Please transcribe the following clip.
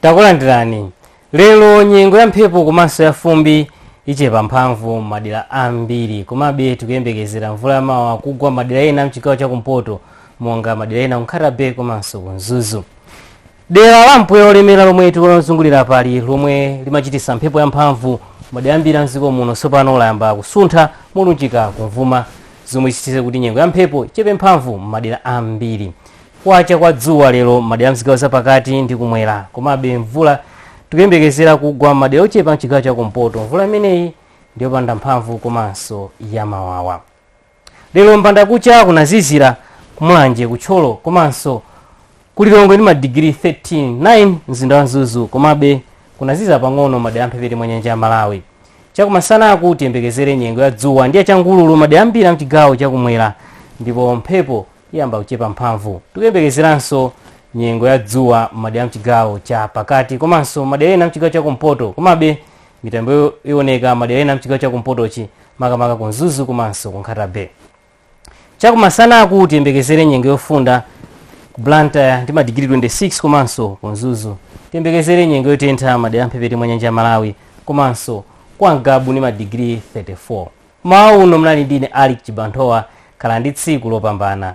takulandirani lero nyengo ya mphepo komanso ya fumbi ichepa mphamvu m'madera ambiri komabe tikuyembekezera mvula yamawawa kugwa madera ena mchigawo chakumpoto monga madera ena ku nkhata bay komanso ku mzuzu dera la mpweya olemera lomwe tikulizungulira apali lomwe limachitisa mphepo yamphamvu madera ambiri mdziko muno tsopano layamba kusuntha molunjika kumvuma zomwe zichititse kuti nyengo ya mphepo ichepe mphamvu m'madera ambiri kwacha kwa dzuwa lero madera a mzigawo zapakati ndi kumwera komabe mvula tikuyembekezera kugwa madera ochepa mchigawo cha kumpoto mvula imeneyi ndiyopanda mphamvu komanso yamawawa Lero mbandakucha kunazizira ku Mulanje, ku Thyolo komanso ku Lilongwe ndi madigiri 13, 9 mzinda wa Mzuzu komabe kunazizira pang'ono madera amphepete mwa nyanja ya Malawi. Chakumasanaku tiyembekezere nyengo ya dzuwa ndi yachangululu madera ambiri a mchigawo chakumwera ndipo mphepo iyamba kuchepa mphamvu. Tikuyembekezeranso nyengo ya dzuwa m'madera a mchigawo cha pakati komanso madera ena a mchigawo chakumpoto komabe mitambo iwoneka madera ena mchigawo chakumpotochi makamaka ku mzuzu komanso ku nkhata bay chakumasanaku tiyembekezere nyengo yofunda ku blantyre ndi madigiri 26 komanso ku mzuzu tiyembekezere nyengo yotentha madera amphepete mwa nyanja ya malawi komanso kwa ngabu ndi madigiri 34 mmawa uno munali ndine alick chibanthowa khalani ndi tsiku lopambana